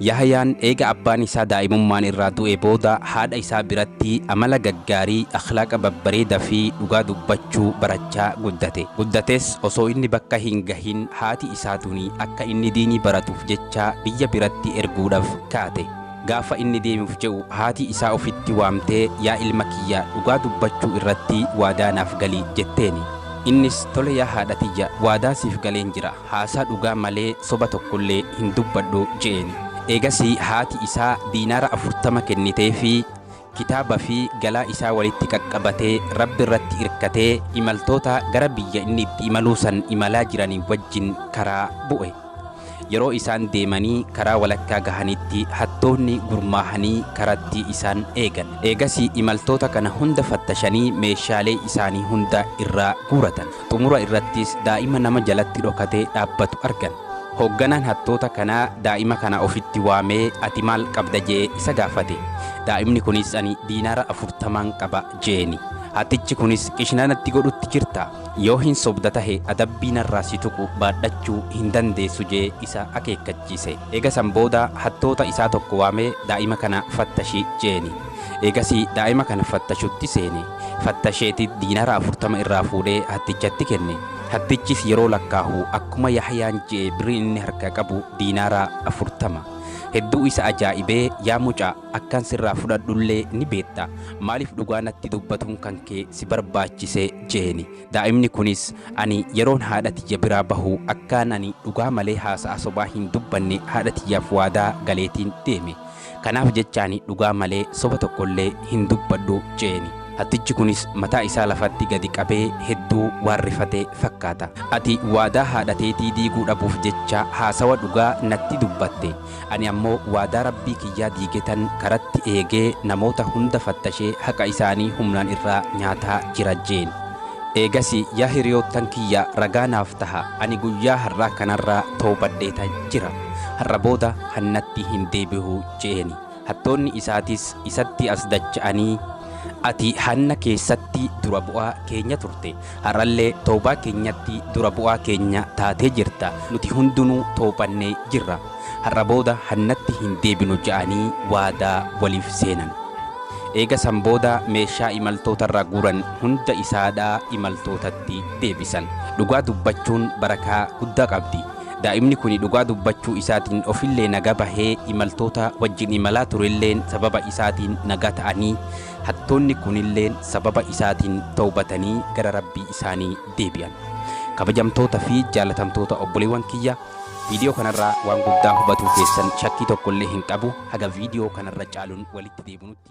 Yahayaan eega abbaan isaa daa'imummaan irraa du'ee booda haadha isaa biratti amala gaggaarii, akhlaaqa babbareeda fi dhugaa dubbachuu barachaa guddate. Guddates osoo inni bakka hin gahin haati isaa tuni akka inni diinii baratuuf jecha biyya biratti erguudhaf kaate. Gaafa inni deemuuf je'u haati isaa ufitti waamtee yaa ilma kiyya dhugaa dubbachuu irratti waadaa naaf gali jetteeni. Innis tole yaa haadha tiyya waadaa siif galeen jira. haasaa dhugaa malee soba tokkollee hin dubbadhu je'een. Eegasii haati isaa diinaara afurtama kenniteefii, kitaaba fi galaa isaa walitti qaqqabatee Rabbi irratti irkatee imaltoota gara biyya inni itti imaluu san imalaa jiranii wajjin karaa bu'e. Yeroo isaan deemanii karaa walakkaa gahanitti hattoonni gurmaahanii karatti isaan eegan. Eegasii imaltoota kana hunda fattashanii meeshaalee isaanii hunda irraa guuratan. Xumura irrattis daa'ima nama jalatti dhokatee dhaabbatu argan. Hoogganaan hattoota kanaa daa'ima kana ofitti waamee ati maal qabda je'ee isa gaafate. Daa'imni kunis ani diinaara afurtamaan qaba je'eeni. Hattichi kunis qishna natti godhutti jirta. Yoo hin sobda tahe adabbii narraa si tuqu baadhachuu hin dandeessu je'ee isa akeekkachiise. Eega san booda hattoota isaa tokko waamee daa'ima kana fattashi je'eeni. Eegasii daa'ima kana fattashutti seene. Fattasheeti diinara afurtama irraa fuudhee hattichatti kenne. Hattichis yeroo lakkaahu akkuma Yahyaan je'e birriin inni harkaa qabu diinara afurtama. Hedduu isa ajaa'ibee, Yaa mucaa! Akkan sirraa fudhadhullee ni beetta. Maaliif dhugaa natti dubbatuun kan kee si barbaachise? je'eeni. Daa'imni kunis, Ani yeroon haadha tiyya biraa bahu akkaan ani dhugaa malee haasa'a sobaa hin dubbanne haadha tiyyaaf waadaa galeetiin deeme. Kanaaf jecha ani dhugaa malee soba tokko illee hin dubbadhu jeeni. Hattichi kunis mataa isaa lafatti gadi qabee hedduu waan rifate fakkaata. Ati waadaa haadha teetii diiguu dhabuuf jecha haasawa dhugaa natti dubbatte. Ani ammoo waadaa Rabbii kiyyaa diigetan karatti eegee namoota hunda fattashee haqa isaanii humnaan irraa nyaataa jira jeen. Eegasii yaa hiriyoottan kiyya ragaa naaf taha ani guyyaa har'aa kanarraa tawbadheeta jira. Har'a booda hannatti hin deebi'u je'eeni. Hattoonni isaatis isatti as dacha'anii, Ati hanna keessatti dura bu'aa keenya turte, har'allee tawbaa keenyatti dura bu'aa keenya taatee jirta, nuti hundunuu tawbannee jirra, har'a booda hannatti hin deebinu je'anii waadaa waliif seenan. Eega san booda meeshaa imaltootarraa guuran hunda isaadhaa imaltootatti deebisan. Dhugaa dubbachuun barakaa guddaa qabdi. Daa'imni kuni dhugaa dubbachuu isaatiin ofillee naga bahee imaltoota wajjin imalaa turelleen sababa isaatiin naga ta'anii hattoonni kunilleen sababa isaatiin tawbatanii gara Rabbii isaanii deebi'an. Kabajamtoota fi jaalatamtoota obboleewwan kiyya viidiyoo kanarraa waan guddaa hubatuu keessan shakkii tokkollee hin qabu haga viidiyoo kanarra caalun walitti deebinutti.